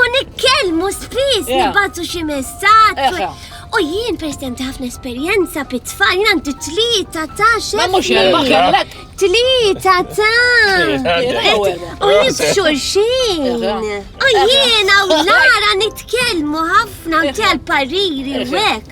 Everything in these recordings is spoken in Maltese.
U nikkellmu spiss nibgħatu xi messaġġ. U jien president ħafna esperjenza pit-tfal, jien għandi tlieta ta' xejn. Ma mhux erba' kellek. Tlieta ta' u jibxu xejn. U jiena u Lara nitkellmu ħafna u tal pariri u hekk.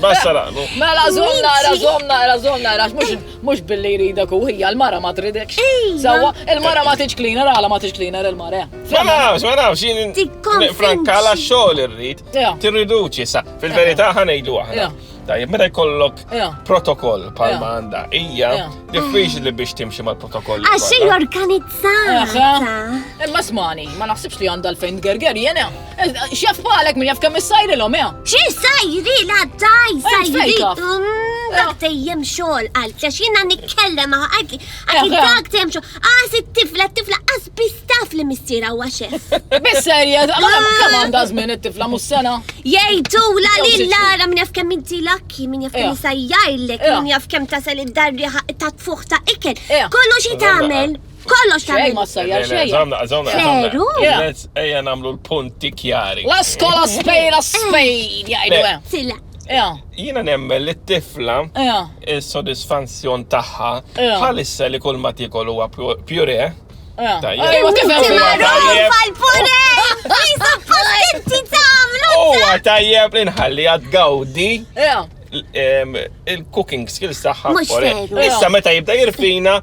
Basta laqnu. Mela zomna, era zomna, era zomna, era mux billi jridek u hija l-mara ma tridek. Sawa, il-mara ma tiġ cleaner, għala ma tiġ cleaner il-mara. Ma nafx, ma nafx, jien frankala xogħol irrid. Tirriduċi sa, fil-verità ħanejdu aħna. Tajjeb, meta jkollok Ja. protokoll Ja. palma għandha hija, Ja. diffiċli biex timxi mal-protokoll. Għax xej Aha. organizzata. Imma smani, ma naħsibx li għandha l-fejn gerger jena. Xjaf palek minn jaf kemm issajri l-om, ja. Xi sajri la daj Ej, sajri. fejka. Mm, Dak tejjem xogħol għal għax jiena nitkellem għak Ja, għak ja. dak tejjem xogħol. Għas it-tifla, t-tifla għas bistaf li missira huwa xef. Bisserja, kemm għandha żmien it-tifla mhux sena. Jgħidu la li lara minn jaf kemm inti lakki, minn jaf kemm sajjajlek, minn jaf kemm tasel id-darri ta' tfuħ ta' ikel. Kollu xi tagħmel. Kollu xejn ma sajjar xejn. Żamna, żamna. Veru? Ejja nagħmlu l-punti kjari. La skola spejra spejn, jgħidu. Ja. Jiena nemmen li t-tifla Ja. is-sodisfanzjon tagħha Ja. bħalissa li kull ma tiekol huwa pju- pjure. Ja. Tajjeb. Ejwa, Inti tifhem fija. magħruf Tajjeb. għall-pure! Isa pazzenti tagħmlu! Huwa tajjeb li nħalli għad gawdi Ja. l- em, il-cooking skills tagħha. Mhux pure. veru. Issa meta jibda jirfina,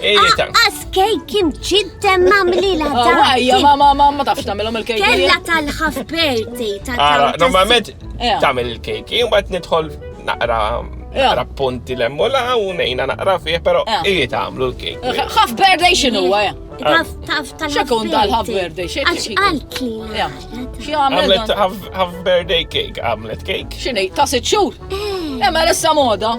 Aqqas kejk kim ġidden mamli la oh, dan. Għajja, ma ma ma ma tafx tamilom il-kejk. Kella tal-ħaf berti ta' Ara, normalment tamil il-kejk, jien bat nidħol naqra naqra punti lemmu la u nejna naqra fih, pero iji tamlu l-kejk. ħaf berti xinu għajja. Taf, taf, taf. Xekun tal-ħaf berti, xekun. Għax għalki. Xie għamlet ħaf berti kejk, għamlet kejk. Xini, ta' sitxur. Eh. Emma l-essa moda.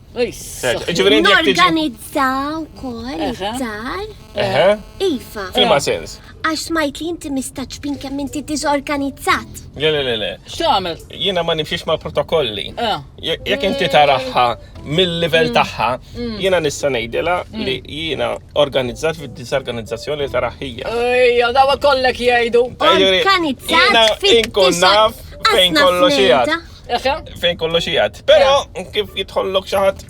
Norganizza u koll id-dar. Iva. Fima sens. Għax smajt li inti mistaċ bin kemm inti diżorganizzat. Le, le, le, le. X'tagħmel? Jiena ma nimxiex ma' protokolli. Eh. Jekk inti taraħħa mill-livell mm. tagħha, mm. jiena nista' ngħidilha mm. li jiena organizzat fid-diżorganizzazzjoni taraħħija. Ejja, daw kollek jgħidu. Organizzat fid-diżorganizzazzjoni. Fejn kollox jgħid. Fejn kollox jgħad. Pero, kif jitħollok xaħat.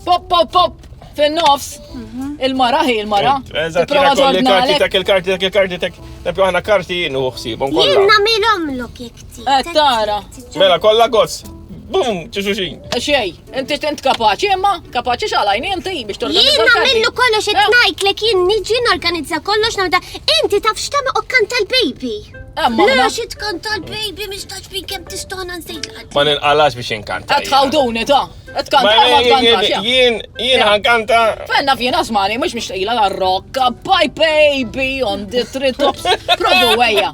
Pop, pop, pop! Fin-nofs, mhm. il-mara hi il-mara. Eżatt, kolli karti tek il-karti tek il-karti tek. Nebju ħana karti jien u xsibom kollha. Jien nagħmilhom lok jekti. Eh, tara. Mela kollha gozz. Bum, ċuxuxin. Eh, xej. Inti int kapaċi imma, kapaċi xalajni inti biex torganizza. Jien nagħmlu kollox qed eh. ngħidlek jien niġi norganizza kollox nagħmda. Inti taf x'tagħmel okkan tal-baby. Eh, Le xi tkun tal-baby mhix tax fin kemm tistona nsejt. Ma ninqalax biex inkanta. Qed tħawduni ta. Qed kanta ma tkantax. Jien jien ħankanta. Eh. Fenna fien asmani mhux mixtaqila la rokka. Bye baby on the tree tops. Provu wejja.